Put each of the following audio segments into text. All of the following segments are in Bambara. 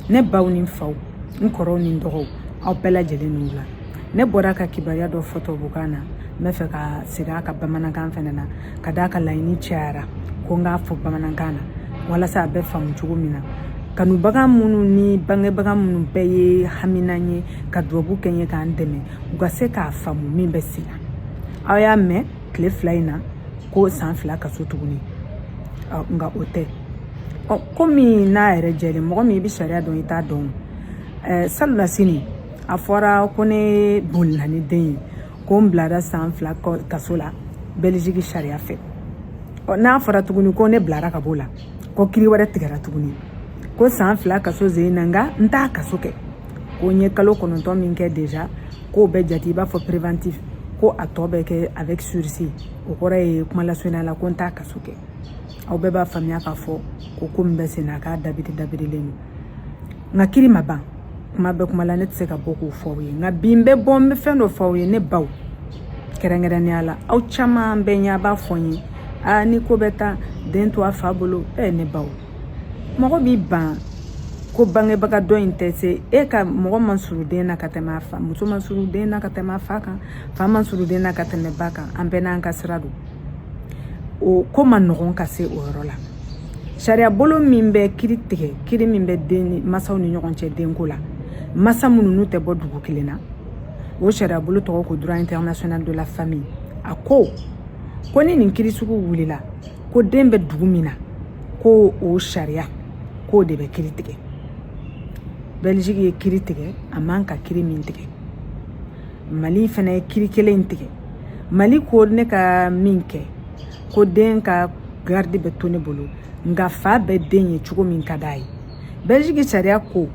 ne baw ni faw n kɔrɔw ni dɔgɔw aw bɛɛ lajɛlen ni wula ne bɔra ka kibaruya dɔ fɔ tubabukan na n b'a fɛ ka segin a kan bamanankan fɛnɛ na ka d'a kan laɲini cayara ko n k'a fɔ bamanankan na walasa a bɛ faamu cogo min na kanubaga minnu ni bangebaga minnu bɛɛ ye haminan ye ka dubabu kɛ n ye ka n dɛmɛ u ka se k'a faamu min bɛ sen na aw y'a mɛn tile fila in na ko san fila kaso tuguni nka o tɛ ɔ komi n'a yɛrɛ jɛlen mɔgɔ min i bɛ sariya dɔn i t'a dɔn ɛɛ salonnasini a fɔra ko ne bolila ni den ye ko n bilara san fila kaso la bɛliziki sariya fɛ ɔ n'a fɔra tuguni ko ne bilara ka b'o la ko kiri wɛrɛ tigɛra tuguni ko san fila kaso zen na nka n t'a kaso kɛ ko n ye kalo kɔnɔntɔn min kɛ déjà k'o bɛ jate i b'a fɔ préventif ko a tɔ bɛ kɛ avec sursis o kɔrɔ ye kuma lasurunya la ko n t'a kaso kɛ aw bɛɛ b'a faamuya k'a fɔ ko ko min bɛ sen na k'a dabiri dabirilen don nka kiri ma ban kuma bɛ kuma la ne tɛ se ka bɔ k'o fɔ aw ye nka bi n bɛ bɔ n bɛ fɛn dɔ fɔ aw ye ne baw kɛrɛnkɛrɛnnenya la aw caman bɛ yen a b'a fɔ n ye aa ni ko bɛ taa den to a fa bolo e ne baw mɔgɔ b'i ban ko bangebaga dɔ in tɛ se e ka mɔgɔ man surun den na ka tɛmɛ a fa muso man surun den na ka tɛmɛ a fa kan fa man surun den na ka tɛmɛ ba kan an bɛɛ n'an ka sira don o ko man nɔgɔn ka se o yɔrɔ la sariya bolo min bɛ kiri tigɛ kiri min bɛ den masaw ni ɲɔgɔn cɛ denko la masa minnu n'u tɛ bɔ dugu kelen na o sariya bolo tɔgɔ ko droit international de la famille a ko ko ni nin kiri sugu wulila ko den bɛ dugu min na ko o sariya k'o de bɛ kiri tigɛ bɛliziki ye kiri tigɛ a man ka kiri min tigɛ mali fana ye kiri kelen in tigɛ mali ko ne ka min kɛ ko den ka garidi bɛ to ne bolo nka fa bɛ den ye cogo min ka d'a ye bɛliziki sariya ko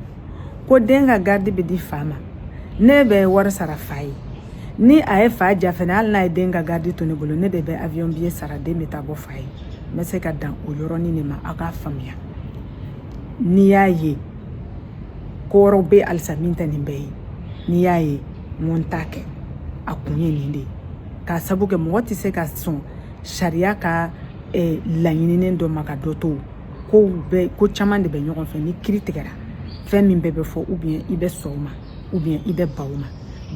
ko den ka garidi bɛ di fa ma ne bɛ wari sara fa ye ni a ye fa ja fɛnɛ hali n'a ye den ka garidi to ne bolo ne de bɛ avion biye sara den bɛ taa bɔ fa ye n bɛ se ka dan o yɔrɔnin de ma aw k'a faamuya n'i y'a ye ko wɛrɛw bɛ halisa min tɛ nin bɛɛ ye n'i y'a ye n ko n t'a kɛ a kun ye nin de ye k'a sabu kɛ mɔgɔ tɛ se ka sɔn sariya ka eh, laɲininen dɔ ma ka dɔ to kow bɛɛ ko caman de bɛ ɲɔgɔn fɛ ni kiri tigɛra fɛn min bɛɛ bɛ fɔ ou bien i bɛ sɔn o ma ou bien i bɛ ban o ma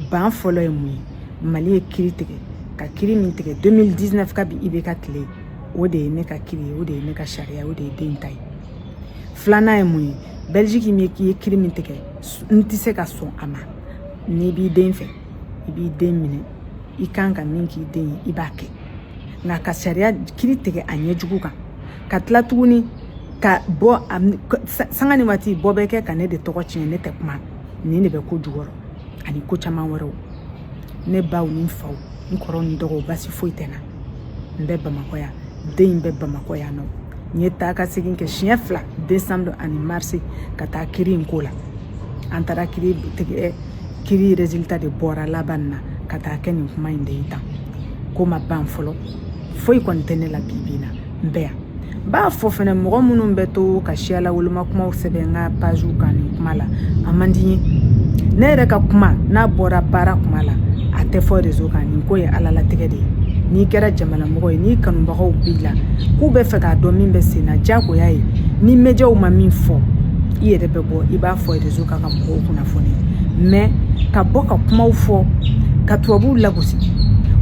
ban fɔlɔ ye mun ye mali ye kiri tigɛ ka kiri min tigɛ 2019 kabi i bɛ ka tile o de ye ne ka kiri ye o de ye ne ka sariya o de ye den ta ye filanan ye mun ye belgique ye kiri min tigɛ n tɛ se ka sɔn a ma n'i b'i den fɛ i b'i den minɛ i kan ka min k'i den ye i b'a kɛ nka ka sariya kiri tigɛ a ɲɛjugu kan ka tila tuguni ka bɔ sanga ni waati bɔ bɛ kɛ ka ne de tɔgɔ tiɲɛ ne tɛ kuma nin de bɛ ko jukɔrɔ ani ko caman wɛrɛw ne baw ni faw n kɔrɔw ni dɔgɔw baasi foyi tɛ n na n bɛ bamakɔ yan den in bɛ bamakɔ yan nɔ n ye taa ka segin kɛ siɲɛ fila desanburu ani marisi ka taa kiri in ko la an taara kiri tigɛ kiri résultat de bɔra laban na ka taa kɛ nin kuma in de ye tan ko ma ban fɔlɔ foyi kɔni tɛ ne la bibi in na bɛ yan n b'a fɔ fɛnɛ mɔgɔ minnu bɛ to ka siyala woloma kumaw sɛbɛn n ka page kan nin kuma la a man di n ye ne yɛrɛ ka kuma n'a bɔra baara kuma la a tɛ fɔ réseau kan nin ko ye ala latigɛ de ye n'i kɛra jamanamɔgɔ ye n'i kanubagaw b'i la k'u b'a fɛ k'a dɔn min bɛ sen na diyagoya ye ni médiaw ma min fɔ i yɛrɛ bɛ bɔ i b'a fɔ réseau kan ka mɔgɔw kunnafoni mais ka bɔ ka kumaw fɔ ka tubabuw lagosi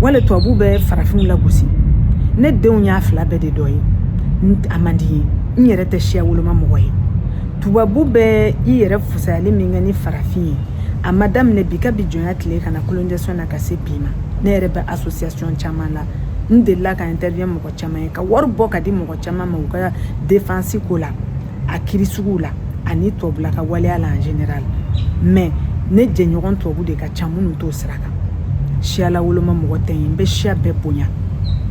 wali tubabuw bɛ farafinw lagosi ne denw y'a fila bɛɛ de dɔ ye a man di n ye n yɛrɛ tɛ siya woloma mɔgɔ ye tubabu bɛ i yɛrɛ fusayali min kɛ ni farafin ye a ma daminɛ bi kabi jɔnya tile ka na colonisation na ka se bi ma ne yɛrɛ bɛ association caman la n delila ka intervenir mɔgɔ caman ye ka wari bɔ k'a di mɔgɔ caman ma u ka défense ko la a kiri suguw la ani tubabula ka waleya la en général mais ne jɛɲɔgɔn tubabu de ka ca minnu t'o sira kan siyala woloma mɔgɔ tɛ n ye n bɛ siya bɛɛ bonya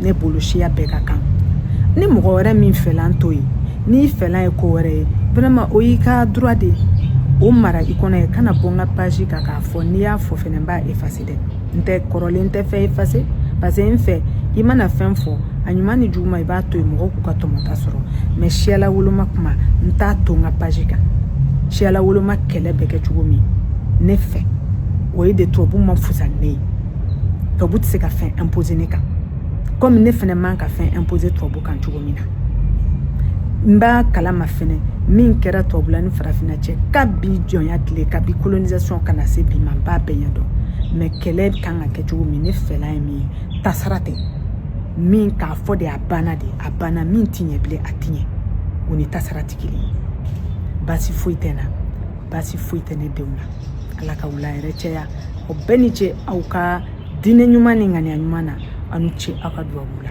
ne bolo siya bɛɛ ka kan ni mɔgɔ wɛrɛ min fɛla t'o ye n'i fɛla ye ko wɛrɛ ye vraiment o y'i ka droit de ye o mara i kɔnɔ yen kana bɔ n ka page kan k'a fɔ n'i y'a fɔ fɛnɛ n b'a effacer n tɛ kɔrɔlen n tɛ fɛn effacer parce que n fɛ i mana fɛn fɔ a ɲuman ni juguman i b'a to yen mɔgɔw k'u ka tɔmɔta sɔrɔ mais siyala woloma kuma n t'a to n ka page kan siyala woloma kɛlɛ bɛ kɛ cogo min ne fɛ o ye de tubabu ma fusa ne ye tubabu tɛ se ka fɛn imposer ne kan comme ne fɛnɛ man ka fɛn imposer tubabu kan cogo min na n b'a kalama fɛnɛ min kɛra tubabula ni farafinna cɛ kabi jɔnya tile kabi colonisation ka na se bi ma n b'a bɛɛ ɲɛdɔn mais kɛlɛ kan ka kɛ cogo min ne fɛla ye min ye tasara tɛ min k'a fɔ de a banna de a banna min ti ɲɛ bilen a ti ɲɛ o ni tasara ti kelen ye baasi foyi tɛ n na baasi foyi tɛ ne denw na ala ka wula hɛrɛ caya aw bɛɛ ni ce aw ka diinɛ ɲuman ni ŋaniya ɲuman na aw ni ce aw ka duwawu la